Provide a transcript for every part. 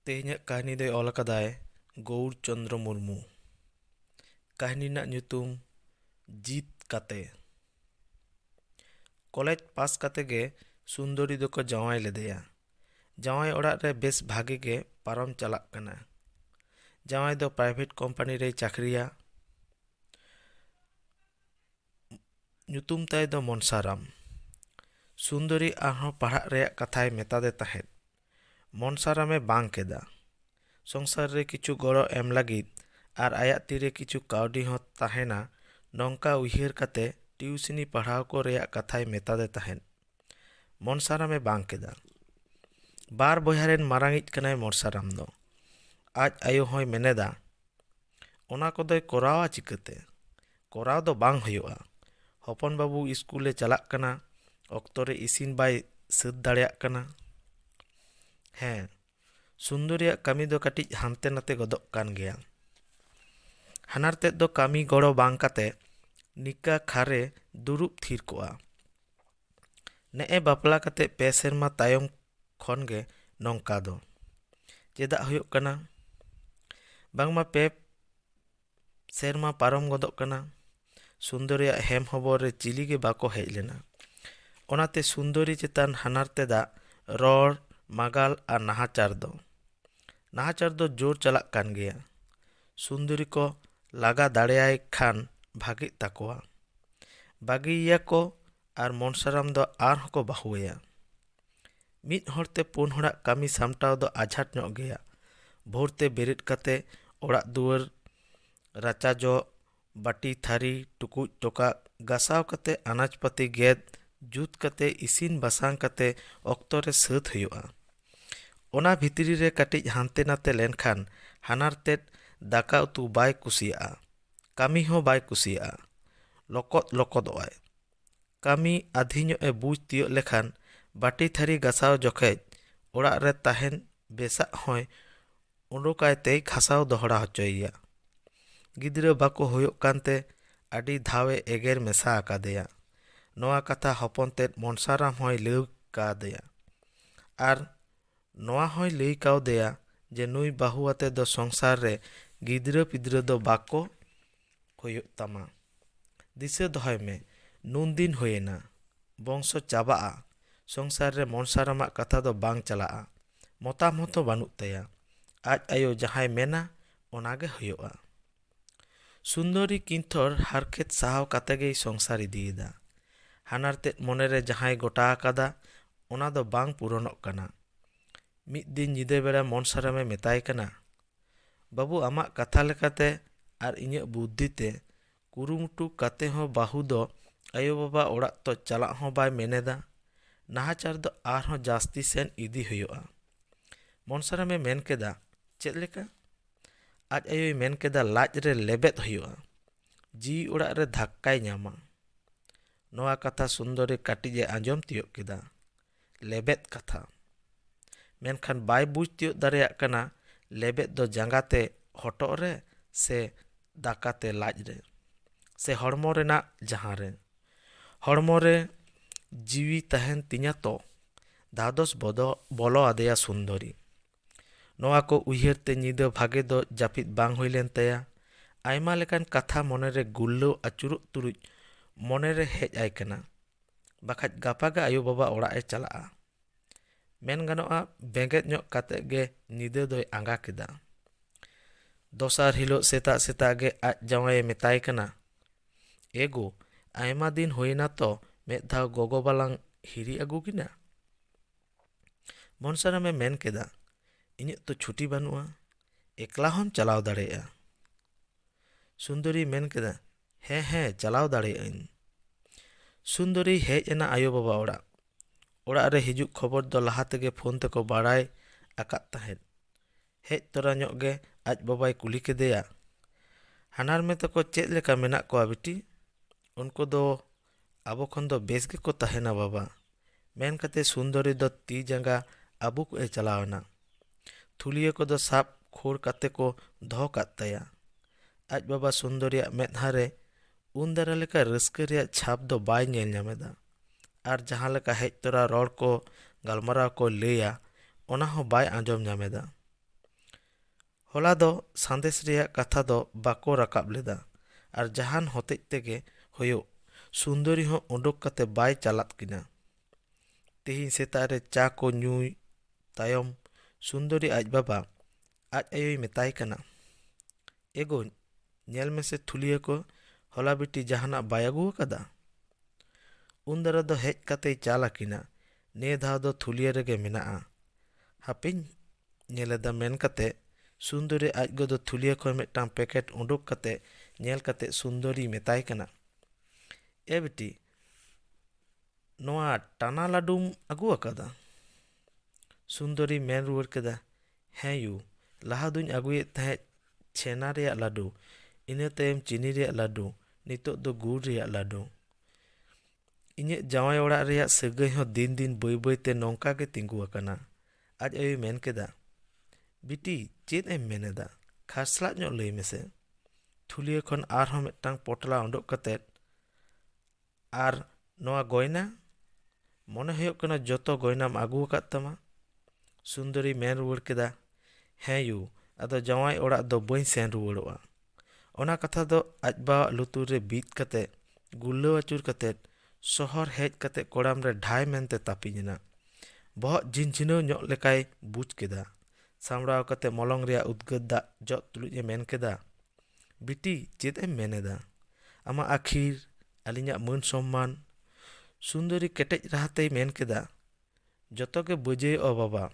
ᱛᱮᱦᱮᱧᱟᱜ ᱠᱟᱹᱦᱱᱤ ᱫᱚᱭ ᱚᱞ ᱠᱟᱫᱟᱭ ᱜᱳᱣᱩᱨ ᱪᱚᱱᱫᱨᱚ ᱢᱩᱨᱢᱩ ᱠᱟᱹᱦᱱᱤ ᱨᱮᱱᱟᱜ ᱧᱩᱛᱩᱢ ᱡᱤᱛ ᱠᱟᱛᱮ ᱠᱚᱞᱮᱡᱽ ᱯᱟᱥ ᱠᱟᱛᱮ ᱜᱮ ᱥᱩᱱᱫᱚᱨᱤ ᱫᱚᱠᱚ ᱡᱟᱶᱟᱭ ᱞᱮᱫᱮᱭᱟ ᱡᱟᱶᱟᱭ ᱚᱲᱟᱜ ᱨᱮ ᱵᱮᱥ ᱵᱷᱟᱜᱮ ᱜᱮ ᱯᱟᱨᱚᱢ ᱪᱟᱞᱟᱜ ᱠᱟᱱᱟ ᱡᱟᱶᱟᱭ ᱫᱚ ᱯᱨᱟᱭᱵᱷᱮᱴ ᱠᱳᱢᱯᱟᱱᱤ ᱨᱮᱭ ᱪᱟᱠᱨᱤᱭᱟ ᱧᱩᱛᱩᱢ ᱛᱟᱭ ᱫᱚ ᱢᱚᱱᱥᱟᱨᱟᱢ ᱥᱩᱱᱫᱚᱨᱤ ᱟᱨᱦᱚᱸ ᱯᱟᱲᱦᱟᱜ ᱨᱮᱭᱟᱜ ᱠᱟᱛᱷᱟᱭ ᱢᱮᱛᱟᱫᱮ ᱛᱟᱦᱮᱸᱫ ᱢᱚᱱᱥᱟᱨᱟᱢᱮ ᱵᱟᱝ ᱠᱮᱫᱟ ᱥᱚᱝᱥᱟᱨ ᱨᱮ ᱠᱤᱪᱷᱩ ᱜᱚᱲᱚ ᱮᱢ ᱞᱟᱹᱜᱤᱫ ᱟᱨ ᱟᱭᱟᱜ ᱛᱤᱨᱮ ᱠᱤᱪᱷᱩ ᱠᱟᱹᱣᱰᱤ ᱦᱚᱸ ᱛᱟᱦᱮᱱᱟ ᱱᱚᱝᱠᱟ ᱩᱭᱦᱟᱹᱨ ᱠᱟᱛᱮ ᱴᱤᱭᱩᱥᱤᱱᱤ ᱯᱟᱲᱦᱟᱣ ᱠᱚ ᱨᱮᱭᱟᱜ ᱠᱟᱛᱷᱟᱭ ᱢᱮᱛᱟᱫᱮ ᱛᱟᱦᱮᱸᱫ ᱢᱚᱱᱥᱟᱨᱟᱢᱮ ᱵᱟᱝ ᱠᱮᱫᱟ ᱵᱟᱨ ᱵᱚᱭᱦᱟ ᱨᱮᱱ ᱢᱟᱨᱟᱝᱤᱡ ᱠᱟᱱᱟᱭ ᱢᱚᱱᱥᱟᱨᱟᱢ ᱫᱚ ᱟᱡ ᱟᱭᱳ ᱦᱚᱸᱭ ᱢᱮᱱᱮᱫᱟ ᱚᱱᱟ ᱠᱚᱫᱚᱭ ᱠᱚᱨᱟᱣᱟ ᱪᱤᱠᱟᱹᱛᱮ ᱠᱚᱨᱟᱣ ᱫᱚ ᱵᱟᱝ ᱦᱩᱭᱩᱜᱼᱟ ᱦᱚᱯᱚᱱ ᱵᱟᱹᱵᱩ ᱤᱥᱠᱩᱞᱮ ᱪᱟᱞᱟᱜ ᱠᱟᱱᱟ ᱚᱠᱛᱚ ᱨᱮ ᱤᱥᱤᱱ ᱵᱟᱭ ᱥᱟᱹᱛ ᱫᱟᱲᱮᱭᱟᱜ ᱠᱟᱱᱟ ᱦᱮᱸ ᱥᱩᱱᱫᱚᱨᱤᱭᱟᱜ ᱠᱟᱹᱢᱤ ᱫᱚ ᱠᱟᱹᱴᱤᱡ ᱦᱟᱱᱛᱮ ᱱᱟᱛᱮ ᱜᱚᱫᱚᱜ ᱠᱟᱱ ᱜᱮᱭᱟ ᱦᱟᱱᱟᱨ ᱛᱮᱫ ᱫᱚ ᱠᱟᱹᱢᱤ ᱜᱚᱲᱚ ᱵᱟᱝ ᱠᱟᱛᱮ ᱱᱤᱠᱟᱹ ᱠᱷᱟᱨᱮ ᱫᱩᱲᱩᱵ ᱛᱷᱤᱨ ᱠᱚᱜᱼᱟ ᱱᱮᱜᱼᱮ ᱵᱟᱯᱞᱟ ᱠᱟᱛᱮ ᱯᱮ ᱥᱮᱨᱢᱟ ᱛᱟᱭᱚᱢ ᱠᱷᱚᱱ ᱜᱮ ᱱᱚᱝᱠᱟ ᱫᱚ ᱪᱮᱫᱟᱜ ᱦᱩᱭᱩᱜ ᱠᱟᱱᱟ ᱵᱟᱝᱢᱟ ᱯᱮ ᱥᱮᱨᱢᱟ ᱯᱟᱨᱚᱢ ᱜᱚᱫᱚᱜ ᱠᱟᱱᱟ ᱥᱩᱱᱫᱚᱨᱤᱭᱟᱜ ᱦᱮᱢ ᱦᱚᱵᱚᱨ ᱨᱮ ᱪᱤᱞᱤ ᱜᱮ ᱵᱟᱠᱚ ᱦᱮᱡ ᱞᱮᱱᱟ ᱚᱱᱟᱛᱮ ᱥᱩᱱᱫᱚᱨᱤ ᱪᱮᱛᱟᱱ ᱦᱟᱱᱟᱨ ᱛᱮᱫᱟᱜ ᱨᱚᱲ ᱢᱟᱜᱟᱞ ᱟᱨ ᱱᱟᱦᱟᱪᱟᱨ ᱫᱚ ᱱᱟᱦᱟᱪᱟᱨ ᱫᱚ ᱡᱳᱨ ᱪᱟᱞᱟᱜ ᱠᱟᱱ ᱜᱮᱭᱟ ᱥᱩᱱᱫᱚᱨᱤ ᱠᱚ ᱞᱟᱜᱟ ᱫᱟᱲᱮᱭᱟᱭ ᱠᱷᱟᱱ ᱵᱷᱟᱜᱮᱜ ᱛᱟᱠᱚᱣᱟ ᱵᱟᱹᱜᱤᱭᱮᱭᱟ ᱠᱚ ᱟᱨ ᱢᱚᱱᱥᱟᱨᱟᱢ ᱫᱚ ᱟᱨᱦᱚᱸ ᱠᱚ ᱵᱟᱹᱦᱩ ᱟᱭᱟ ᱢᱤᱫ ᱦᱚᱲᱛᱮ ᱯᱩᱱ ᱦᱚᱲᱟᱜ ᱠᱟᱹᱢᱤ ᱥᱟᱢᱴᱟᱣ ᱫᱚ ᱟᱡᱷᱟᱴ ᱧᱚᱜ ᱜᱮᱭᱟ ᱵᱷᱳᱨ ᱛᱮ ᱵᱮᱨᱮᱫ ᱠᱟᱛᱮ ᱚᱲᱟᱜ ᱫᱩᱣᱟᱹᱨ ᱨᱟᱪᱟ ᱡᱚᱜ ᱵᱟᱹᱴᱤ ᱛᱷᱟᱹᱨᱤ ᱴᱩᱠᱩᱡ ᱴᱚᱠᱟᱜ ᱜᱟᱥᱟᱣ ᱠᱟᱛᱮ ᱟᱱᱟᱡᱽ ᱯᱟᱹᱛᱤ ᱜᱮᱫ ᱡᱩᱛ ᱠᱟᱛᱮ ᱤᱥᱤᱱ ᱵᱟᱥᱟᱝ ᱠᱟᱛᱮ ᱚᱠᱛᱚ ᱨᱮ ᱥᱟᱹᱛ ᱦᱩᱭᱩᱜᱼᱟ ᱚᱱᱟ ᱵᱷᱤᱛᱨᱤ ᱨᱮ ᱠᱟᱹᱴᱤᱡ ᱦᱟᱱᱛᱮ ᱱᱟᱛᱮ ᱞᱮᱱᱠᱷᱟᱱ ᱦᱟᱱᱟᱨ ᱛᱮᱫ ᱫᱟᱠᱟ ᱩᱛᱩ ᱵᱟᱭ ᱠᱩᱥᱤᱭᱟᱜᱼᱟ ᱠᱟᱹᱢᱤ ᱦᱚᱸ ᱵᱟᱭ ᱠᱩᱥᱤᱭᱟᱜᱼᱟ ᱞᱚᱠᱚᱫ ᱞᱚᱠᱚᱫᱚᱜ ᱟᱭ ᱠᱟᱹᱢᱤ ᱟᱹᱫᱷᱤ ᱧᱚᱜ ᱮ ᱵᱩᱡᱽ ᱛᱤᱭᱳᱜ ᱞᱮᱠᱷᱟᱱ ᱵᱟᱹᱴᱤ ᱛᱷᱟᱹᱨᱤ ᱜᱟᱥᱟᱣ ᱡᱚᱠᱷᱚᱡ ᱚᱲᱟᱜ ᱨᱮ ᱛᱟᱦᱮᱱ ᱵᱮᱥᱟᱜ ᱦᱚᱸᱭ ᱩᱰᱩᱠ ᱟᱭ ᱛᱮᱭ ᱜᱷᱟᱥᱟᱣ ᱫᱚᱦᱲᱟ ᱦᱚᱪᱚᱭᱮᱭᱟ ᱜᱤᱫᱽᱨᱟᱹ ᱵᱟᱠᱚ ᱦᱩᱭᱩᱜ ᱠᱟᱱᱛᱮ ᱟᱹᱰᱤ ᱫᱷᱟᱣ ᱮ ᱮᱜᱮᱨ ᱢᱮᱥᱟ ᱟᱠᱟᱫᱮᱭᱟ ᱱᱚᱣᱟ ᱠᱟᱛᱷᱟ ᱦᱚᱯᱚᱱ ᱛᱮᱫ ᱢᱚᱱᱥᱟᱨᱟᱢ ᱦᱚᱸᱭ ᱞᱟᱹᱭ ᱠᱟᱣᱫᱮᱭᱟ ᱟᱨ ᱱᱚᱶᱟ ᱦᱚᱸᱭ ᱞᱟᱹᱭ ᱠᱟᱣᱫᱮᱭᱟ ᱡᱮ ᱱᱩᱭ ᱵᱟᱹᱦᱩ ᱟᱛᱮ ᱫᱚ ᱥᱚᱝᱥᱟᱨ ᱨᱮ ᱜᱤᱫᱽᱨᱟᱹ ᱯᱤᱫᱽᱨᱟᱹ ᱫᱚ ᱵᱟᱠᱚ ᱦᱩᱭᱩᱜ ᱛᱟᱢᱟ᱾ ᱫᱤᱥᱟᱹ ᱫᱚᱦᱚᱭ ᱢᱮ ᱱᱩᱱ ᱫᱤᱱ ᱦᱩᱭᱮᱱᱟ᱾ ᱵᱚᱝᱥᱚ ᱪᱟᱵᱟᱜᱼᱟ᱾ ᱥᱚᱝᱥᱟᱨ ᱨᱮ ᱢᱚᱱᱥᱟᱨᱟᱢᱟᱜ ᱠᱟᱛᱷᱟ ᱫᱚ ᱵᱟᱝ ᱪᱟᱞᱟᱜᱼᱟ᱾ ᱢᱚᱛᱟᱢ ᱦᱚᱸᱛᱚ ᱵᱟᱹᱱᱩᱜ ᱛᱟᱭᱟ᱾ ᱟᱡ ᱟᱭᱳ ᱡᱟᱦᱟᱸᱭ ᱢᱮᱱᱟ ᱚᱱᱟ ᱜᱮ ᱦᱩᱭᱩᱜᱼᱟ᱾ ᱥᱩᱱᱫᱚᱨᱤ ᱠᱤᱱᱛᱷᱚᱨ ᱦᱟᱨᱠᱷᱮᱛ ᱥᱟᱦᱟᱣ ᱠᱟᱛᱮ ᱜᱮᱭ ᱥᱚᱝᱥᱟᱨ ᱤᱫᱤᱭᱮᱫᱟ ᱦᱟᱱᱟᱨ ᱛᱮᱫ ᱢᱚᱱᱮ ᱨᱮ ᱡᱟᱦᱟᱸᱭ ᱜᱚᱴᱟ ᱟᱠᱟᱫᱟ ᱚᱱᱟ ᱫᱚ ᱵᱟᱝ ᱯᱩᱨᱚᱱᱚᱜ ᱠᱟᱱᱟ ᱢᱤᱫ ᱫᱤᱱ ᱧᱤᱫᱟᱹ ᱵᱮᱲᱟ ᱢᱚᱱᱥᱟᱨᱟᱢᱮ ᱢᱮᱛᱟᱭ ᱠᱟᱱᱟ ᱵᱟᱹᱵᱩ ᱟᱢᱟᱜ ᱠᱟᱛᱷᱟ ᱞᱮᱠᱟᱛᱮ ᱟᱨ ᱤᱧᱟᱹᱜ ᱵᱩᱫᱽᱫᱷᱤ ᱛᱮ ᱠᱩᱨᱩᱢᱩᱴᱩ ᱠᱟᱛᱮ ᱦᱚᱸ ᱵᱟᱹᱦᱩ ᱫᱚ ᱟᱭᱳ ᱵᱟᱵᱟ ᱚᱲᱟᱜ ᱛᱚ ᱪᱟᱞᱟᱜ ᱦᱚᱸ ᱵᱟᱭ ᱢᱮᱱᱮᱫᱟ ᱱᱟᱦᱟᱪᱟᱨ ᱫᱚ ᱟᱨᱦᱚᱸ ᱡᱟᱹᱥᱛᱤ ᱥᱮᱱ ᱤᱫᱤ ᱦᱩᱭᱩᱜᱼᱟ ᱢᱚᱱᱥᱟᱨᱟᱢᱮ ᱢᱮᱱ ᱠᱮᱫᱟ ᱪᱮᱫ ᱞᱮᱠᱟ ᱟᱡ ᱟᱭᱳᱭ ᱢᱮᱱ ᱠᱮᱫᱟ ᱞᱟᱡ ᱨᱮ ᱞᱮᱵᱮᱫ ᱦᱩᱭᱩᱜᱼᱟ ᱡᱤᱣᱤ ᱚᱲᱟᱜ ᱨᱮ ᱫᱷᱟᱠᱠᱟᱭ ᱧᱟᱢᱟ ᱱᱚᱣᱟ ᱠᱟᱛᱷᱟ ᱥᱩᱱᱫᱚᱨᱤ ᱠᱟᱹᱴᱤᱡ ᱮ ᱟᱸᱡᱚᱢ ᱛᱤᱭᱳᱜ ᱠᱮᱫᱟ ᱞᱮᱵᱮᱫ ᱠᱟᱛᱷᱟ ᱢᱮᱱᱠᱷᱟᱱ ᱵᱟᱭ ᱵᱩᱡᱽ ᱛᱤᱭᱳᱜ ᱫᱟᱲᱮᱭᱟᱜ ᱠᱟᱱᱟ ᱞᱮᱵᱮᱫ ᱫᱚ ᱡᱟᱸᱜᱟ ᱛᱮ ᱦᱚᱴᱚᱜ ᱨᱮ ᱥᱮ ᱫᱟᱠᱟ ᱛᱮ ᱞᱟᱡ ᱨᱮ ᱥᱮ ᱦᱚᱲᱢᱚ ᱨᱮᱱᱟᱜ ᱡᱟᱦᱟᱸ ᱨᱮ ᱦᱚᱲᱢᱚ ᱨᱮ ᱡᱤᱣᱤ ᱛᱟᱦᱮᱱ ᱛᱤᱧᱟᱹ ᱛᱚ ᱫᱷᱟᱫᱚᱥ ᱵᱚᱫᱚ ᱵᱚᱞᱚ ᱟᱫᱮᱭᱟ ᱥᱩᱱᱫᱚᱨᱤ ᱱᱚᱣᱟ ᱠᱚ ᱩᱭᱦᱟᱹᱨ ᱛᱮ ᱧᱤᱫᱟᱹ ᱵᱷᱟᱜᱮ ᱫᱚ ᱡᱟᱹᱯᱤᱫ ᱵᱟᱝ ᱦᱩᱭ ᱞᱮᱱ ᱛᱟᱭᱟ᱾ ᱟᱭᱢᱟ ᱞᱮᱠᱟᱱ ᱠᱟᱛᱷᱟ ᱢᱚᱱᱮ ᱨᱮ ᱜᱩᱨᱞᱟᱹᱣ ᱟᱹᱪᱩᱨᱚᱜ ᱛᱩᱞᱩᱡ ᱢᱚᱱᱮ ᱨᱮ ᱦᱮᱡ ᱟᱭ ᱠᱟᱱᱟ, ᱵᱟᱠᱷᱟᱡ ᱜᱟᱯᱟ ᱜᱮ ᱟᱭᱳ ᱵᱟᱵᱟ ᱚᱲᱟᱜ ᱮ ᱪᱟᱞᱟᱜᱼᱟ᱾ ᱢᱮᱱ ᱜᱟᱱᱚᱜᱼᱟ ᱵᱮᱸᱜᱮᱫ ᱧᱚᱜ ᱠᱟᱛᱮ ᱜᱮ ᱧᱤᱫᱟᱹ ᱫᱚᱭ ᱟᱸᱜᱟ ᱠᱮᱫᱟ᱾ ᱫᱚᱥᱟᱨ ᱦᱤᱞᱚᱜ ᱥᱮᱛᱟᱜ ᱥᱮᱛᱟᱜ ᱜᱮ ᱟᱡ ᱡᱟᱶᱟᱭ ᱮ ᱢᱮᱛᱟᱭ ᱠᱟᱱᱟ, ᱮ ᱜᱳ, ᱟᱭᱢᱟ ᱫᱤᱱ ᱦᱩᱭ ᱮᱱᱟ ᱛᱚ ᱢᱮᱫ ᱫᱷᱟᱣ ᱜᱚᱜᱚ ᱵᱟᱞᱟᱝ ᱦᱤᱨᱤ ᱟᱹᱜᱩ ᱠᱤᱱᱟ᱾ ᱢᱚᱱᱥᱟᱨᱟᱢ ᱮ ᱢᱮᱱ ᱠᱮᱫᱟ ᱤᱧᱟᱹᱜ ᱛᱚ ᱪᱷᱩᱴᱤ ᱵᱟᱹᱱᱩᱜᱼᱟ ᱮᱠᱞᱟ ᱦᱚᱢ ᱪᱟᱞᱟᱣ ᱫᱟᱲᱮᱭᱟᱜᱼᱟ ᱥᱩᱱᱫᱚᱨᱤᱭ ᱢᱮᱱ ᱠᱮᱫᱟ ᱦᱮᱸ ᱦᱮᱸ ᱪᱟᱞᱟᱣ ᱫᱟᱲᱮᱭᱟᱜ ᱟᱹᱧ ᱥᱩᱱᱫᱚᱨᱤᱭ ᱦᱮᱡ ᱮᱱᱟ ᱟᱭᱳ ᱵᱟᱵᱟ ᱚᱲᱟᱜ ᱚᱲᱟᱜ ᱨᱮ ᱦᱤᱡᱩᱜ ᱠᱷᱚᱵᱚᱨ ᱫᱚ ᱞᱟᱦᱟ ᱛᱮᱜᱮ ᱯᱷᱳᱱ ᱛᱮᱠᱚ ᱵᱟᱲᱟᱭ ᱟᱠᱟᱫ ᱛᱟᱦᱮᱸᱫ ᱦᱮᱡ ᱛᱚᱨᱟ ᱧᱚᱜ ᱜᱮ ᱟᱡ ᱵᱟᱵᱟᱭ ᱠᱩᱞᱤ ᱠᱮᱫᱮᱭᱟ ᱦᱟᱱᱦᱟᱨᱢᱮ ᱛᱟᱠᱚ ᱪᱮᱫ ᱞᱮᱠᱟ ᱢᱮᱱᱟᱜ ᱠᱚᱣᱟ ᱵᱤᱴᱤ ᱩᱱᱠᱩ ᱫᱚ ᱟᱵᱚ ᱠᱷᱚᱱ ᱫᱚ ᱵᱮᱥ ᱜᱮᱠᱚ ᱛᱟᱦᱮᱱᱟ ᱵᱟᱵᱟ ᱢᱮᱱ ᱠᱟᱛᱮ ᱥᱩᱱᱫᱚᱨᱤ ᱫᱚ ᱛᱤ ᱡᱟᱸᱜᱟ ᱟᱵᱩᱠ ᱮ ᱪᱟᱞᱟᱣ ᱮᱱᱟ ᱛᱷᱩᱞᱤᱭᱟᱹ ᱠᱚᱫᱚ ᱥᱟᱵ ᱠᱷᱳᱲ ᱠᱟᱛᱮ ᱠᱚ ᱫᱚᱦᱚ ᱠᱟᱫ ᱛᱟᱭᱟ ᱟᱡ ᱵᱟᱵᱟ ᱥᱩᱱᱫᱚᱨᱤᱭᱟᱜ ᱢᱮᱫᱦᱟ ᱨᱮ ᱩᱱ ᱫᱟᱨᱟ ᱞᱮᱠᱟ ᱨᱟᱹᱥᱠᱟᱹ ᱨᱮᱭᱟᱜ ᱪᱷᱟᱯ ᱫᱚ ᱵᱟᱭ ᱧᱮᱞ ᱧᱟᱢᱮᱫᱟ ᱟᱨ ᱡᱟᱦᱟᱸ ᱞᱮᱠᱟ ᱦᱮᱡ ᱛᱚᱨᱟ ᱨᱚᱲ ᱠᱚ ᱜᱟᱞᱢᱟᱨᱟᱣ ᱠᱚ ᱞᱟᱹᱭᱟ ᱚᱱᱟ ᱦᱚᱸ ᱵᱟᱭ ᱟᱸᱡᱚᱢ ᱧᱟᱢᱮᱫᱟ ᱦᱚᱞᱟ ᱫᱚ ᱥᱟᱸᱫᱮᱥ ᱨᱮᱭᱟᱜ ᱠᱟᱛᱷᱟ ᱫᱚ ᱵᱟᱠᱚ ᱨᱟᱠᱟᱵ ᱞᱮᱫᱟ ᱟᱨ ᱡᱟᱦᱟᱱ ᱦᱚᱛᱮᱡ ᱛᱮᱜᱮ ᱦᱳᱭᱳᱜ ᱥᱩᱱᱫᱚᱨᱤ ᱦᱚᱸ ᱳᱰᱳᱠ ᱠᱟᱛᱮ ᱵᱟᱭ ᱪᱟᱞᱟᱫ ᱠᱤᱱᱟ᱾ ᱛᱮᱦᱮᱧ ᱥᱮᱛᱟᱜ ᱨᱮ ᱪᱟ ᱠᱚ ᱧᱩᱭ ᱛᱟᱭᱚᱢ ᱥᱩᱱᱫᱚᱨᱤ ᱟᱡ ᱵᱟᱵᱟ ᱟᱡ ᱟᱭᱳᱭ ᱢᱮᱛᱟᱭ ᱠᱟᱱᱟ, ᱮᱜᱳ ᱧᱮᱞ ᱢᱮᱥᱮ ᱛᱷᱩᱞᱤᱭᱟᱹ ᱠᱚ ᱦᱚᱞᱟ ᱵᱤᱴᱤ ᱡᱟᱦᱟᱱᱟᱜ ᱵᱟᱭ ᱟᱹᱜᱩ ᱟᱠᱟᱫᱟ᱾ ᱩᱱ ᱫᱟᱨᱟ ᱫᱚ ᱦᱮᱡ ᱠᱟᱛᱮᱭ ᱪᱟᱞ ᱟᱠᱤᱱᱟ ᱱᱮ ᱫᱷᱟᱣ ᱫᱚ ᱛᱷᱩᱞᱤᱭᱟᱹ ᱨᱮᱜᱮ ᱢᱮᱱᱟᱜᱼᱟ᱾ ᱦᱟᱯᱮᱧ ᱧᱮᱞ ᱮᱫᱟ ᱢᱮᱱ ᱠᱟᱛᱮ ᱥᱩᱱᱫᱚᱨᱤ ᱟᱡ ᱜᱚ ᱫᱚ ᱛᱷᱩᱞᱤᱭᱟᱹ ᱠᱷᱚᱱ ᱢᱤᱫᱴᱟᱝ ᱯᱮᱠᱮᱴ ᱩᱰᱩᱠ ᱠᱟᱛᱮ ᱧᱮᱞ ᱠᱟᱛᱮ ᱥᱩᱱᱫᱚᱨᱤᱭ ᱢᱮᱛᱟᱭ ᱠᱟᱱᱟ, ᱮ ᱵᱤᱴᱤ, ᱱᱚᱣᱟ ᱴᱟᱱᱟ ᱞᱟᱹᱰᱩᱢ ᱟᱹᱜᱩ ᱟᱠᱟᱫᱟ? ᱥᱩᱱᱫᱚᱨᱤᱭ ᱢᱮᱱ ᱨᱩᱣᱟᱹᱲ ᱠᱮᱫᱟ, ᱦᱮᱸ ᱭᱩ, ᱞᱟᱦᱟ ᱫᱩᱧ ᱟᱹᱜᱩᱭᱮᱫ ᱛᱟᱦᱮᱸᱫ ᱪᱷᱮᱱᱟ ᱨᱮᱭᱟᱜ ᱞᱟᱹᱰᱩ, ᱤᱱᱟᱹ ᱛᱟᱭᱚᱢ ᱪᱤᱱᱤ ᱨᱮᱭᱟᱜ ᱞᱟᱹᱰᱩ, ᱱᱤᱛᱚᱜ ᱫᱚ ᱜᱩᱲ ᱨᱮᱭᱟᱜ ᱞᱟᱹᱰᱩ᱾ ᱤᱧᱟᱹᱜ ᱡᱟᱶᱟᱭ ᱚᱲᱟᱜ ᱨᱮᱭᱟᱜ ᱥᱟᱹᱜᱟᱹᱭ ᱦᱚᱸ ᱫᱤᱱ ᱫᱤᱱ ᱵᱟᱹᱭ ᱵᱟᱹᱭ ᱛᱮ ᱱᱚᱝᱠᱟ ᱜᱮ ᱛᱤᱸᱜᱩ ᱟᱠᱟᱱᱟ ᱟᱡ ᱟᱭᱳᱭ ᱢᱮᱱ ᱠᱮᱫᱟ ᱵᱤᱴᱤ ᱪᱮᱫ ᱮᱢ ᱢᱮᱱ ᱮᱫᱟ ᱠᱷᱟᱨᱥᱞᱟᱜ ᱧᱚᱜ ᱞᱟᱹᱭ ᱢᱮᱥᱮ ᱛᱷᱩᱞᱤᱭᱟᱹ ᱠᱷᱚᱱ ᱟᱨᱦᱚᱸ ᱢᱤᱫᱴᱟᱝ ᱯᱚᱴᱞᱟ ᱩᱰᱩᱠ ᱠᱟᱛᱮᱫ ᱟᱨ ᱱᱚᱣᱟ ᱜᱚᱭᱱᱟ ᱢᱚᱱᱮ ᱦᱩᱭᱩᱜ ᱠᱟᱱᱟ ᱡᱚᱛᱚ ᱜᱚᱭᱱᱟᱢ ᱟᱹᱜᱩ ᱟᱠᱟᱫ ᱛᱟᱢᱟ ᱥᱩᱱᱫᱚᱨᱤ ᱢᱮᱱ ᱨᱩᱣᱟᱹᱲ ᱠᱮᱫᱟ ᱦᱮᱸ ᱭᱩ ᱟᱫᱚ ᱡᱟᱶᱟᱭ ᱚᱲᱟᱜ ᱫᱚ ᱵᱟᱹᱧ ᱥᱮᱱ ᱨᱩᱣᱟᱹᱲᱚᱜᱼᱟ ᱚᱱᱟ ᱠᱟᱛᱷᱟ ᱫᱚ ᱟᱡ ᱵᱟᱵᱟᱣᱟᱜ ᱞᱩᱛᱩᱨ ᱨᱮ ᱵᱤᱫ ᱠᱟᱛᱮ ᱜᱩᱨᱞᱟᱹᱣ ᱟᱹᱪᱩᱨ ᱠᱟᱛᱮ ᱥᱚᱦᱚᱨ ᱦᱮᱡ ᱠᱟᱛᱮ ᱠᱚᱲᱟᱢ ᱨᱮ ᱰᱷᱟᱭ ᱢᱮᱱᱛᱮ ᱛᱟᱹᱯᱤᱧ ᱮᱱᱟ ᱵᱚᱦᱚᱜ ᱡᱷᱤᱱᱡᱷᱤᱱᱟᱹᱣ ᱧᱚᱜ ᱞᱮᱠᱟᱭ ᱵᱩᱡᱽ ᱠᱮᱫᱟ ᱥᱟᱢᱲᱟᱣ ᱠᱟᱛᱮ ᱢᱚᱞᱚᱝ ᱨᱮᱭᱟᱜ ᱩᱫᱽᱜᱟᱹᱨ ᱫᱟᱜ ᱡᱚᱜ ᱛᱩᱞᱩᱡ ᱮ ᱢᱮᱱ ᱠᱮᱫᱟ ᱵᱤᱴᱤ ᱪᱮᱫ ᱮᱢ ᱢᱮᱱ ᱮᱫᱟ ᱟᱢᱟᱜ ᱟᱹᱠᱷᱤᱨ ᱟᱹᱞᱤᱧᱟᱜ ᱢᱟᱹᱱ ᱥᱚᱱᱢᱟᱱ ᱥᱩᱱᱫᱚᱨᱤ ᱠᱮᱴᱮᱡ ᱨᱟᱦᱟ ᱛᱮᱭ ᱢᱮᱱ ᱠᱮᱫᱟ ᱡᱚᱛᱚ ᱜᱮ ᱵᱟᱹᱡᱟᱹᱭᱚᱜᱼᱟ ᱵᱟᱵᱟ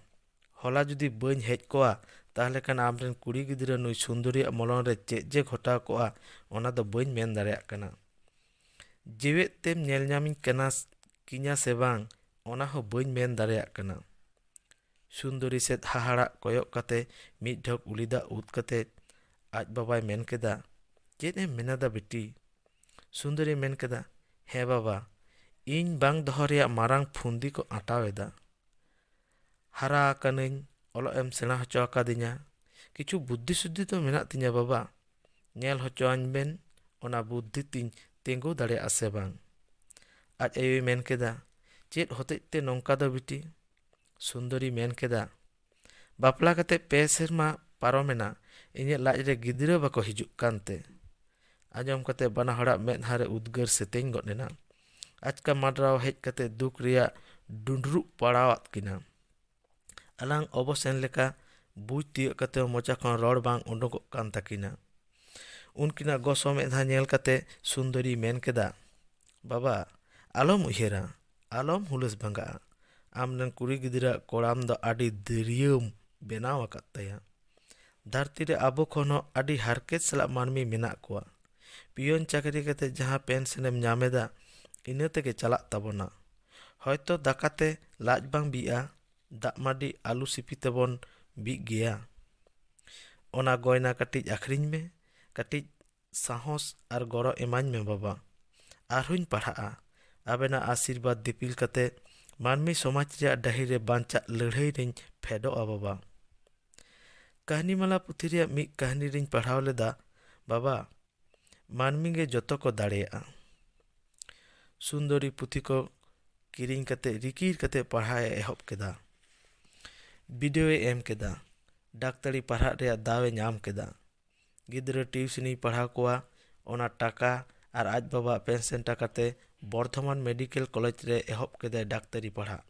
ᱦᱚᱞᱟ ᱡᱩᱫᱤ ᱵᱟᱹᱧ ᱦᱮᱡ ᱠᱚᱜᱼᱟ ᱛᱟᱦᱚᱞᱮ ᱠᱷᱟᱱ ᱟᱢ ᱨᱮᱱ ᱠᱩᱲᱤ ᱜᱤᱫᱽᱨᱟᱹ ᱱᱩᱭ ᱥᱩᱱᱫᱚᱨᱤᱭᱟᱜ ᱢᱚᱞᱚᱝ ᱨᱮ ᱪᱮᱫ ᱡᱮ ᱜᱷᱚᱴᱟᱣ ᱠᱚᱜᱼᱟ ᱚᱱᱟ ᱫᱚ ᱵᱟᱹᱧ ᱢᱮᱱ ᱫᱟᱲᱮᱭᱟᱜ ᱠᱟᱱᱟ ᱡᱮᱣᱮᱫ ᱛᱮᱢ ᱧᱮᱞ ᱧᱟᱢᱤᱧ ᱠᱟᱱᱟ ᱠᱤᱧᱟ ᱥᱮ ᱵᱟᱝ ᱚᱱᱟ ᱦᱚᱸ ᱵᱟᱹᱧ ᱢᱮᱱ ᱫᱟᱲᱮᱭᱟᱜ ᱠᱟᱱᱟ ᱥᱩᱱᱫᱚᱨᱤ ᱥᱮᱫ ᱦᱟᱦᱟᱲᱟᱜ ᱠᱚᱭᱚᱜ ᱠᱟᱛᱮ ᱢᱤᱫ ᱰᱷᱚᱠ ᱩᱞᱤ ᱫᱟᱜ ᱩᱫ ᱠᱟᱛᱮ ᱟᱡ ᱵᱟᱵᱟᱭ ᱢᱮᱱ ᱠᱮᱫᱟ ᱪᱮᱫ ᱮᱢ ᱢᱮᱱᱮᱫᱟ ᱵᱤᱴᱤ ᱥᱩᱱᱫᱚᱨᱤ ᱢᱮᱱ ᱠᱮᱫᱟ ᱦᱮᱸ ᱵᱟᱵᱟ ᱤᱧ ᱵᱟᱝ ᱫᱚᱦᱚ ᱨᱮᱭᱟᱜ ᱢᱟᱨᱟᱝ ᱯᱷᱩᱱᱫᱤ ᱠᱚ ᱟᱸᱴᱟᱣ ᱮᱫᱟ ᱦᱟᱨᱟ ᱟᱠᱟᱱᱟᱹᱧ ᱚᱞᱚᱜ ᱮᱢ ᱥᱮᱬᱟ ᱦᱚᱪᱚ ᱟᱠᱟᱫᱤᱧᱟ ᱠᱤᱪᱷᱩ ᱵᱩᱫᱽᱫᱷᱤ ᱥᱩᱫᱽᱫᱷᱤ ᱫᱚ ᱢᱮᱱᱟᱜ ᱛᱤᱧᱟᱹ ᱵᱟᱵᱟ ᱧᱮᱞ ᱦᱚᱪᱚ ᱟᱹᱧ ᱵᱮᱱ ᱚᱱᱟ ᱵᱩᱫᱽᱫᱷᱤ ᱛᱤᱧ ᱛᱤᱸᱜᱩ ᱫᱟᱲᱮᱭᱟᱜᱼᱟ ᱥᱮ ᱵᱟᱝ ᱟᱡ ᱟᱭᱳᱭ ᱢᱮᱱ ᱠᱮᱫᱟ ᱪᱮᱫ ᱦᱚᱛᱮᱡ ᱛᱮ ᱱᱚᱝᱠᱟ ᱫᱚ ᱵᱤᱴᱤ ᱥᱩᱱᱫᱚᱨᱤ ᱢᱮᱱ ᱠᱮᱫᱟ ᱵᱟᱯᱞᱟ ᱠᱟᱛᱮ ᱯᱮ ᱥᱮᱨᱢᱟ ᱯᱟᱨᱚᱢᱮᱱᱟ ᱤᱧᱟᱹᱜ ᱞᱟᱡ ᱨᱮ ᱜᱤᱫᱽᱨᱟᱹ ᱵᱟᱠᱚ ᱦᱤᱡᱩᱜ ᱠᱟᱱᱛᱮ ᱟᱸᱡᱚᱢ ᱠᱟᱛᱮ ᱵᱟᱱᱟ ᱦᱚᱲᱟᱜ ᱢᱮᱫᱦᱟ ᱨᱮ ᱩᱫᱽᱜᱟᱹᱨ ᱥᱮᱛᱮᱧ ᱜᱚᱫ ᱮᱱᱟ ᱟᱪᱠᱟ ᱢᱟᱰᱨᱟᱣ ᱦᱮᱡ ᱠᱟᱛᱮ ᱫᱩᱠ ᱨᱮᱭᱟᱜ ᱰᱩᱸᱰᱨᱩᱜ ᱯᱟᱲᱟᱣᱟᱫ ᱠᱤᱱᱟ ᱟᱞᱟᱝ ᱚᱵᱚᱥᱮᱱ ᱞᱮᱠᱟ ᱵᱩᱡᱽ ᱛᱤᱭᱳᱜ ᱠᱟᱛᱮ ᱢᱚᱪᱟ ᱠᱷᱚᱱ ᱨᱚᱲ ᱵᱟᱝ ᱩᱰᱩᱠᱚᱜ ᱠᱟᱱ ᱛᱟᱹᱠᱤᱱᱟ ᱩᱱᱠᱤᱱᱟᱜ ᱜᱚᱥᱚ ᱢᱮᱫᱦᱟ ᱧᱮᱞ ᱠᱟᱛᱮ ᱥᱩᱱᱫᱚᱨᱤ ᱢᱮᱱ ᱠᱮᱫᱟ ᱵᱟᱵᱟ ᱟᱞᱚᱢ ᱩᱭᱦᱟᱹᱨᱟ ᱟᱞᱚᱢ ᱦᱩᱞᱟᱹᱥ ᱵᱷᱟᱸᱜᱟᱜᱼᱟ ᱟᱢ ᱨᱮᱱ ᱠᱩᱲᱤ ᱜᱤᱫᱽᱨᱟᱹ ᱟᱜ ᱠᱚᱲᱟᱢ ᱫᱚ ᱟᱹᱰᱤ ᱫᱟᱹᱨᱭᱟᱹᱢ ᱵᱮᱱᱟᱣ ᱟᱠᱟᱫ ᱛᱟᱭᱟ ᱫᱷᱟᱹᱨᱛᱤ ᱨᱮ ᱟᱵᱚ ᱠᱷᱚᱱ ᱦᱚᱸ ᱟᱹᱰᱤ ᱦᱟᱨᱠᱮᱛ ᱥᱟᱞᱟᱜ ᱢᱟᱹᱱᱢᱤ ᱢᱮᱱᱟᱜ ᱠᱚᱣᱟ ᱯᱤᱭᱚᱱ ᱪᱟᱹᱠᱨᱤ ᱠᱟᱛᱮ ᱡᱟᱦᱟᱸ ᱯᱮᱱᱥᱮᱱ ᱮᱢ ᱧᱟᱢ ᱮᱫᱟ ᱤᱱᱟᱹ ᱛᱮᱜᱮ ᱪᱟᱞᱟᱜ ᱛᱟᱵᱚᱱᱟ ᱦᱚᱭᱛᱳ ᱫᱟᱠᱟ ᱛᱮ ᱞᱟᱡ ᱵᱟᱝ ᱵᱤᱜᱼᱟ ᱫᱟᱜ ᱢᱟᱹᱰᱤ ᱟᱹᱞᱩ ᱥᱤᱯᱤ ᱛᱮᱵᱚᱱ ᱵᱤᱜ ᱜᱮᱭᱟ ᱚᱱᱟ ᱜᱚᱭᱱᱟ ᱠᱟᱹᱴᱤᱡ ᱟᱠᱷᱨᱤᱧ ᱢᱮ ᱠᱟᱹᱴᱤᱡ ᱥᱟᱦᱚᱥ ᱟᱨ ᱜᱚᱲᱚ ᱮᱢᱟᱹᱧ ᱢᱮ ᱵᱟᱵᱟ ᱟᱨ ᱦᱚᱸᱧ ᱯᱟᱲᱦᱟᱜᱼᱟ ᱟᱵᱮᱱᱟᱜ ᱟᱥᱤᱨᱵᱟᱫᱽ ᱫᱤᱯᱤᱞ ᱠᱟᱛᱮ ᱢᱟᱹᱱᱢᱤ ᱥᱚᱢᱟᱡᱽ ᱨᱮᱭᱟᱜ ᱰᱟᱹᱦᱤ ᱨᱮ ᱵᱟᱧᱪᱟᱜ ᱞᱟᱹᱲᱦᱟᱹᱭ ᱨᱮᱧ ᱯᱷᱮᱰᱚᱜᱼᱟ ᱵᱟᱵᱟ ᱠᱟᱹᱦᱱᱤ ᱢᱟᱞᱟ ᱯᱩᱛᱷᱤ ᱨᱮᱭᱟᱜ ᱢᱤᱫ ᱠᱟᱹᱦᱱᱤ ᱨᱮᱧ ᱯᱟᱲᱦᱟᱣ ᱞᱮᱫᱟ ᱵᱟᱵᱟ ᱢᱟᱹᱱᱢᱤ ᱜᱮ ᱡᱚᱛᱚ ᱠᱚ ᱫᱟᱲᱮᱭᱟᱜᱼᱟ ᱥᱩᱱᱫᱚᱨᱤ ᱯᱩᱛᱷᱤ ᱠᱚ ᱠᱤᱨᱤᱧ ᱠᱟᱛᱮ ᱨᱤᱠᱤᱲ ᱠᱟᱛᱮ ᱯᱟᱲᱦᱟᱣ ᱮ ᱮᱦᱚᱵ ᱠᱮᱫᱟ ᱵᱤᱰᱟᱹᱣ ᱮ ᱮᱢ ᱠᱮᱫᱟ ᱰᱟᱠᱛᱟᱨᱤ ᱯᱟᱲᱦᱟᱜ ᱨᱮᱭᱟᱜ ᱫᱟᱣ ᱮ ᱧᱟᱢ ᱠᱮᱫᱟ ᱜᱤᱫᱽᱨᱟᱹ ᱴᱤᱭᱩᱥᱚᱱᱤ ᱯᱟᱲᱦᱟᱣ ᱠᱚᱣᱟ ᱚᱱᱟ ᱴᱟᱠᱟ ᱟᱨ ᱟᱡ ᱵᱟᱵᱟᱣᱟᱜ ᱯᱮᱱᱥᱚᱱ ᱴᱟᱠᱟ ᱛᱮ ᱵᱚᱨᱫᱷᱚᱢᱟᱱ ᱢᱮᱰᱤᱠᱮᱞ ᱠᱚᱞᱮᱡᱽ ᱨᱮ ᱮᱦᱚᱵ ᱠᱮᱫᱟᱭ ᱰᱟᱠᱛᱟᱨᱤ ᱯᱟᱲᱦᱟᱜ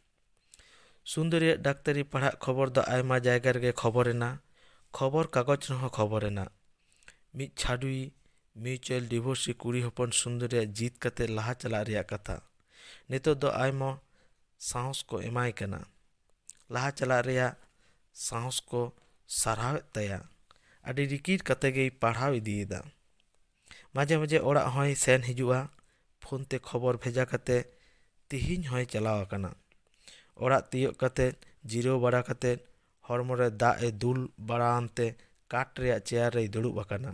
ᱥᱩᱱᱫᱚᱨᱤᱭᱟᱜ ᱰᱟᱠᱛᱟᱨᱤ ᱯᱟᱲᱦᱟᱜ ᱠᱷᱚᱵᱚᱨ ᱫᱚ ᱟᱭᱢᱟ ᱡᱟᱭᱜᱟ ᱨᱮᱜᱮ ᱠᱷᱚᱵᱚᱨ ᱮᱱᱟ ᱠᱷᱚᱵᱚᱨ ᱠᱟᱜᱚᱡᱽ ᱨᱮᱦᱚᱸ ᱠᱷᱚᱵᱚᱨ ᱮᱱᱟ ᱢᱤᱫ ᱪᱷᱟᱹᱰᱣᱤ ᱢᱤᱭᱩᱪᱩᱭᱮᱞ ᱰᱤᱵᱷᱳᱨᱥᱤ ᱠᱩᱲᱤ ᱦᱚᱯᱚᱱ ᱥᱩᱱᱫᱚᱨᱤᱭᱟᱜ ᱡᱤᱛ ᱠᱟᱛᱮ ᱞᱟᱦᱟ ᱪᱟᱞᱟᱜ ᱨᱮᱭᱟᱜ ᱠᱟᱛᱷᱟ ᱱᱤᱛᱚᱜ ᱫᱚ ᱟᱭᱢᱟ ᱥᱟᱦᱚᱥ ᱠᱚ ᱮᱢᱟᱭ ᱠᱟᱱᱟ ᱞᱟᱦᱟ ᱪᱟᱞᱟᱜ ᱨᱮᱭᱟᱜ ᱥᱟᱦᱚᱥ ᱠᱚ ᱥᱟᱨᱦᱟᱣᱮᱫ ᱛᱟᱭᱟ ᱟᱹᱰᱤ ᱨᱤᱠᱤᱲ ᱠᱟᱛᱮ ᱜᱮᱭ ᱯᱟᱲᱦᱟᱣ ᱤᱫᱤᱭᱮᱫᱟ ᱢᱟᱡᱷᱮ ᱢᱟᱡᱷᱮ ᱚᱲᱟᱜ ᱦᱚᱸᱭ ᱥᱮᱱ ᱦᱤᱡᱩᱜᱼᱟ ᱯᱷᱳᱱ ᱛᱮ ᱠᱷᱚᱵᱚᱨ ᱵᱷᱮᱡᱟ ᱠᱟᱛᱮ ᱛᱮᱦᱮᱧ ᱦᱚᱸᱭ ᱪᱟᱞᱟᱣ ᱟᱠᱟᱱᱟ ᱚᱲᱟᱜ ᱛᱤᱭᱳᱜ ᱠᱟᱛᱮ ᱡᱤᱨᱟᱹᱣ ᱵᱟᱲᱟ ᱠᱟᱛᱮ ᱦᱚᱲᱢᱚ ᱨᱮ ᱫᱟᱜ ᱮ ᱫᱩᱞ ᱵᱟᱲᱟ ᱟᱱ ᱛᱮ ᱠᱟᱴ ᱨᱮᱭᱟᱜ ᱪᱮᱭᱟᱨ ᱨᱮᱭ ᱫᱩᱲᱩᱵ ᱟᱠᱟᱱᱟ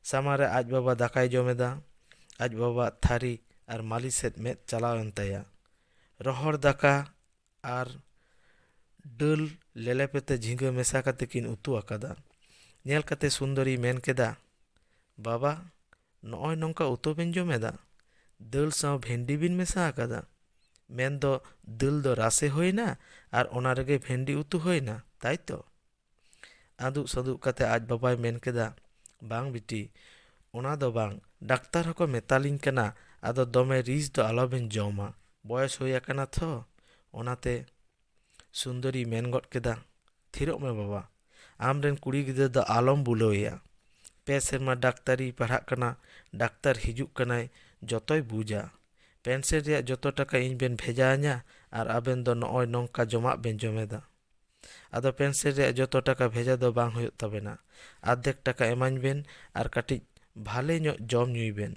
ᱥᱟᱢᱟᱝ ᱨᱮ ᱟᱡ ᱵᱟᱵᱟ ᱫᱟᱠᱟᱭ ᱡᱚᱢ ᱮᱫᱟ ᱟᱡ ᱵᱟᱵᱟᱣᱟᱜ ᱛᱷᱟᱹᱨᱤ ᱟᱨ ᱢᱟᱹᱞᱤ ᱥᱮᱫ ᱢᱮᱫ ᱪᱟᱞᱟᱣᱮᱱ ᱛᱟᱭᱟ ᱨᱚᱦᱚᱲ ᱫᱟᱠᱟ ᱟᱨ ᱰᱟᱹᱞ ᱞᱮᱞᱮᱯᱮᱛᱮ ᱡᱷᱤᱸᱜᱟᱹ ᱢᱮᱥᱟ ᱠᱟᱛᱮ ᱠᱤᱱ ᱩᱛᱩ ᱟᱠᱟᱫᱟ ᱧᱮᱞ ᱠᱟᱛᱮ ᱥᱩᱱᱫᱚᱨᱤᱭ ᱢᱮᱱ ᱠᱮᱫᱟ ᱵᱟᱵᱟ ᱱᱚᱜᱼᱚᱭ ᱱᱚᱝᱠᱟ ᱩᱛᱩ ᱵᱮᱱ ᱡᱚᱢ ᱮᱫᱟ ᱫᱟᱹᱞ ᱥᱟᱶ ᱵᱷᱮᱱᱰᱤ ᱵᱮᱱ ᱢᱮᱥᱟ ᱟᱠᱟᱫᱟ ᱢᱮᱱᱫᱚ ᱫᱟᱹᱞ ᱫᱚ ᱨᱟᱥᱮ ᱦᱩᱭᱱᱟ ᱟᱨ ᱚᱱᱟ ᱨᱮᱜᱮ ᱵᱷᱮᱱᱰᱤ ᱩᱛᱩ ᱦᱩᱭᱱᱟ ᱛᱟᱭᱛᱚ ᱟᱫᱩᱜ ᱥᱟᱫᱩᱜ ᱠᱟᱛᱮ ᱟᱡ ᱵᱟᱵᱟᱭ ᱢᱮᱱ ᱠᱮᱫᱟ ᱵᱟᱝ ᱵᱤᱴᱤ ᱚᱱᱟ ᱫᱚ ᱵᱟᱝ ᱰᱟᱠᱛᱟᱨ ᱦᱚᱸᱠᱚ ᱢᱮᱛᱟᱞᱤᱧ ᱠᱟᱱᱟ ᱟᱫᱚ ᱫᱚᱢᱮ ᱨᱤᱪ ᱫᱚ ᱟᱞᱚᱵᱮᱱ ᱡᱚᱢᱟ ᱵᱚᱭᱮᱥ ᱦᱩᱭ ᱟᱠᱟᱱᱟ ᱛᱷᱚ ᱚᱱᱟᱛᱮ ᱥᱩᱱᱫᱚᱨᱤ ᱢᱮᱱ ᱜᱚᱫ ᱠᱮᱫᱟ ᱛᱷᱤᱨᱚᱜ ᱢᱮ ᱵᱟᱵᱟ ᱟᱢ ᱨᱮᱱ ᱠᱩᱲᱤ ᱜᱤᱫᱽᱨᱟᱹ ᱫᱚ ᱟᱞᱚᱢ ᱵᱩᱞᱟᱹᱣ ᱮᱭᱟ ᱯᱮ ᱥᱮᱨᱢᱟ ᱰᱟᱠᱛᱟᱨᱤᱭ ᱯᱟᱲᱦᱟᱜ ᱠᱟᱱᱟ ᱰᱟᱠᱛᱟᱨ ᱦᱤᱡᱩᱜ ᱠᱟᱱᱟᱭ ᱡᱚᱛᱚᱭ ᱵᱩᱡᱟ ᱯᱮᱱᱥᱮᱱ ᱨᱮᱭᱟᱜ ᱡᱚᱛᱚ ᱴᱟᱠᱟ ᱤᱧ ᱵᱮᱱ ᱵᱷᱮᱡᱟ ᱟᱹᱧᱟ ᱟᱨ ᱟᱵᱮᱱ ᱫᱚ ᱱᱚᱜᱼᱚᱭ ᱱᱚᱝᱠᱟ ᱡᱚᱢᱟᱜ ᱵᱮᱱ ᱡᱚᱢᱮᱫᱟ ᱟᱫᱚ ᱯᱮᱱᱥᱤᱞ ᱨᱮᱭᱟᱜ ᱡᱚᱛᱚ ᱴᱟᱠᱟ ᱵᱷᱮᱡᱟ ᱫᱚ ᱵᱟᱝ ᱦᱩᱭᱩᱜ ᱛᱟᱵᱮᱱᱟ ᱟᱨᱫᱷᱮᱠ ᱴᱟᱠᱟ ᱮᱢᱟᱹᱧ ᱵᱮᱱ ᱟᱨ ᱠᱟᱹᱴᱤᱡ ᱵᱷᱟᱞᱮ ᱧᱚᱜ ᱡᱚᱢ ᱧᱩᱭ ᱵᱮᱱ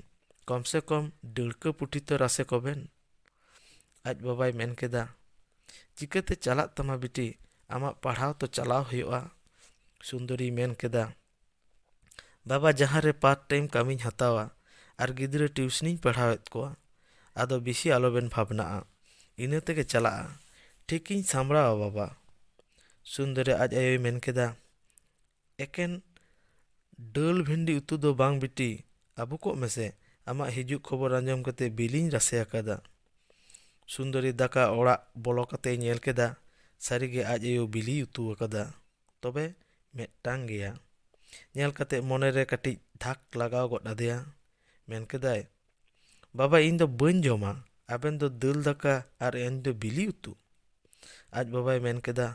ᱠᱚᱢ ᱥᱮ ᱠᱚᱢ ᱰᱟᱹᱲᱠᱟᱹ ᱯᱩᱴᱷᱤ ᱛᱚ ᱨᱟᱥᱮ ᱠᱚᱵᱮᱱ ᱟᱡ ᱵᱟᱵᱟᱭ ᱢᱮᱱ ᱠᱮᱫᱟ ᱪᱤᱠᱟᱹᱛᱮ ᱪᱟᱞᱟᱜ ᱛᱟᱢᱟ ᱵᱤᱴᱤ ᱟᱢᱟᱜ ᱯᱟᱲᱦᱟᱣ ᱛᱚ ᱪᱟᱞᱟᱣ ᱦᱩᱭᱩᱜᱼᱟ ᱥᱩᱱᱫᱚᱨᱤᱭ ᱢᱮᱱ ᱠᱮᱫᱟ ᱵᱟᱵᱟ ᱡᱟᱦᱟᱸ ᱨᱮ ᱯᱟᱨᱴ ᱴᱟᱭᱤᱢ ᱠᱟᱹᱢᱤᱧ ᱦᱟᱛᱟᱣᱟ ᱟᱨ ᱜᱤᱫᱽᱨᱟᱹ ᱴᱤᱭᱩᱥᱚᱱᱤᱧ ᱯᱟᱲᱦᱟᱣᱮᱫ ᱠᱚᱣᱟ ᱟᱫᱚ ᱵᱮᱥᱤ ᱟᱞᱚᱵᱮᱱ ᱵᱷᱟᱵᱽᱱᱟᱜᱼᱟ ᱤᱱᱟᱹ ᱛᱮᱜᱮ ᱪᱟᱞᱟᱜᱼᱟ ᱴᱷᱤᱠᱤᱧ ᱥᱟᱢᱵᱽᱲᱟᱣᱟ ᱵᱟᱵᱟ ᱥᱩᱱᱫᱚᱨᱤ ᱟᱡ ᱟᱭᱳᱭ ᱢᱮᱱ ᱠᱮᱫᱟ ᱮᱠᱮᱱ ᱫᱟᱹᱞ ᱵᱷᱮᱱᱰᱤ ᱩᱛᱩ ᱫᱚ ᱵᱟᱝ ᱵᱤᱴᱤ ᱟᱹᱵᱩ ᱠᱚᱜ ᱢᱮᱥᱮ ᱟᱢᱟᱜ ᱦᱤᱡᱩᱜ ᱠᱷᱚᱵᱚᱨ ᱟᱸᱡᱚᱢ ᱠᱟᱛᱮ ᱵᱤᱞᱤᱧ ᱨᱟᱥᱮ ᱟᱠᱟᱫᱟ ᱥᱩᱱᱫᱚᱨᱤ ᱫᱟᱠᱟ ᱚᱲᱟᱜ ᱵᱚᱞᱚ ᱠᱟᱛᱮᱭ ᱧᱮᱞ ᱠᱮᱫᱟ ᱥᱟᱹᱨᱤᱜᱮ ᱟᱡ ᱟᱭᱳ ᱵᱤᱞᱤᱭ ᱩᱛᱩ ᱟᱠᱟᱫᱟ ᱛᱚᱵᱮ ᱢᱤᱫᱴᱟᱝ ᱜᱮᱭᱟ ᱧᱮᱞ ᱠᱟᱛᱮ ᱢᱚᱱᱮ ᱨᱮ ᱠᱟᱹᱴᱤᱡ ᱫᱷᱟᱠ ᱞᱟᱜᱟᱣ ᱜᱚᱫ ᱟᱫᱮᱭᱟ ᱢᱮᱱ ᱠᱮᱫᱟᱭ ᱵᱟᱵᱟ ᱤᱧ ᱫᱚ ᱵᱟᱹᱧ ᱡᱚᱢᱟ ᱟᱵᱮᱱ ᱫᱚ ᱫᱟᱹᱞ ᱫᱟᱠᱟ ᱟᱨ ᱤᱧ ᱫᱚ ᱵᱤᱞᱤ ᱩᱛᱩ ᱟᱡ ᱵᱟᱵᱟᱭ ᱢᱮᱱ ᱠᱮᱫᱟ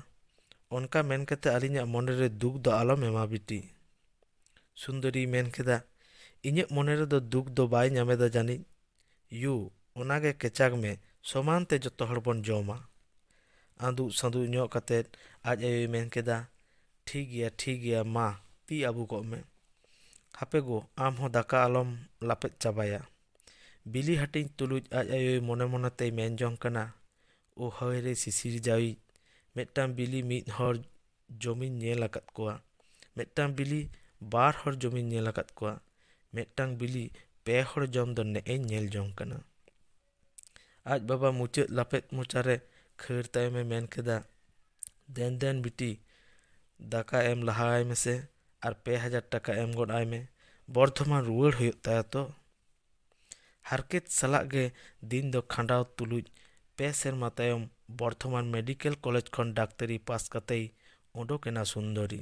ᱚᱱᱠᱟ ᱢᱮᱱ ᱠᱟᱛᱮ ᱟᱹᱞᱤᱧᱟᱜ ᱢᱚᱱᱮ ᱨᱮ ᱫᱩᱠ ᱫᱚ ᱟᱞᱚᱢ ᱮᱢᱟ ᱵᱤᱴᱤ ᱥᱩᱱᱫᱚᱨᱤᱭ ᱢᱮᱱ ᱠᱮᱫᱟ ᱤᱧᱟᱹᱜ ᱢᱚᱱᱮ ᱨᱮᱫᱚ ᱫᱩᱠ ᱫᱚ ᱵᱟᱭ ᱧᱟᱢᱮᱫᱟ ᱡᱟᱹᱱᱤᱡ ᱭᱩ, ᱚᱱᱟ ᱜᱮ ᱠᱮᱪᱟᱠ ᱢᱮ ᱥᱚᱢᱟᱱ ᱛᱮ ᱡᱚᱛᱚ ᱦᱚᱲ ᱵᱚᱱ ᱡᱚᱢᱟ᱾ ᱟᱸᱫᱩᱜ ᱥᱟᱸᱫᱩᱜ ᱧᱚᱜ ᱠᱟᱛᱮ ᱟᱡ ᱟᱭᱳᱭ ᱢᱮᱱ ᱠᱮᱫᱟ, ᱴᱷᱤᱠ ᱜᱮᱭᱟ, ᱴᱷᱤᱠ ᱜᱮᱭᱟ, ᱢᱟ ᱛᱤ ᱟᱹᱵᱩᱠᱚᱜ ᱢᱮ᱾ ᱦᱟᱯᱮ ᱜᱳ, ᱟᱢ ᱦᱚᱸ ᱫᱟᱠᱟ ᱟᱞᱚᱢ ᱞᱟᱯᱮᱫ ᱪᱟᱵᱟᱭᱟ᱾ ᱵᱤᱞᱤ ᱦᱟᱹᱴᱤᱧ ᱛᱩᱞᱩᱡ ᱟᱡ ᱟᱭᱳᱭ ᱢᱚᱱᱮ ᱢᱚᱱᱮ ᱛᱮᱭ ᱢᱮᱱ ᱡᱚᱝ ᱠᱟᱱᱟ, ᱳ ᱦᱟᱹᱭ ᱨᱮ ᱥᱤᱥᱤᱨ ᱡᱟᱹᱣᱤᱡ ᱢᱤᱫᱴᱟᱝ ᱵᱤᱞᱤ ᱢᱤᱫ ᱦᱚᱲ ᱡᱚᱢᱤᱧ ᱧᱮᱞ ᱟᱠᱟᱫ ᱠᱚᱣᱟ ᱢᱤᱫᱴᱟᱝ ᱵᱤᱞᱤ ᱵᱟᱨ ᱦᱚᱲ ᱡᱚᱢᱤᱧ ᱧᱮᱞ ᱟᱠᱟᱫ ᱠᱚᱣᱟ ᱢᱤᱫᱴᱟᱝ ᱵᱤᱞᱤ ᱯᱮ ᱦᱚᱲ ᱡᱚᱢ ᱫᱚ ᱱᱮᱜ ᱮᱧ ᱧᱮᱞ ᱡᱚᱝ ᱠᱟᱱᱟ ᱟᱡ ᱵᱟᱵᱟ ᱢᱩᱪᱟᱹᱫ ᱞᱟᱯᱮᱫ ᱢᱚᱪᱟᱨᱮ ᱠᱷᱟᱹᱲ ᱛᱟᱭᱚᱢᱮ ᱢᱮᱱ ᱠᱮᱫᱟ ᱫᱮᱱ ᱫᱮᱱ ᱵᱤᱴᱤ ᱫᱟᱠᱟ ᱮᱢ ᱞᱟᱦᱟ ᱟᱭ ᱢᱮᱥᱮ ᱟᱨ ᱯᱮ ᱦᱟᱡᱟᱨ ᱴᱟᱠᱟ ᱮᱢ ᱜᱚᱫ ᱟᱭ ᱢᱮ ᱵᱚᱨᱫᱷᱚᱢᱟᱱ ᱨᱩᱣᱟᱹᱲ ᱦᱩᱭᱩᱜ ᱛᱟᱭᱟ ᱛᱚ ᱦᱟᱨᱠᱮᱛ ᱥᱟᱞᱟᱜ ᱜᱮ ᱫᱤᱱ ᱫᱚ ᱠᱷᱟᱸᱰᱟᱣ ᱛᱩᱞᱩᱡ ᱯᱮ ᱥᱮᱨᱢᱟ ᱛᱟᱭᱚᱢ ᱵᱚᱨᱫᱷᱚᱢᱟᱱ ᱢᱮᱰᱤᱠᱮᱞ ᱠᱚᱞᱮᱡᱽ ᱠᱷᱚᱱ ᱰᱟᱠᱛᱟᱨᱤ ᱯᱟᱥ ᱠᱟᱛᱮᱭ ᱩᱰᱩᱠ ᱮᱱᱟ ᱥᱩᱱᱫᱚᱨᱤ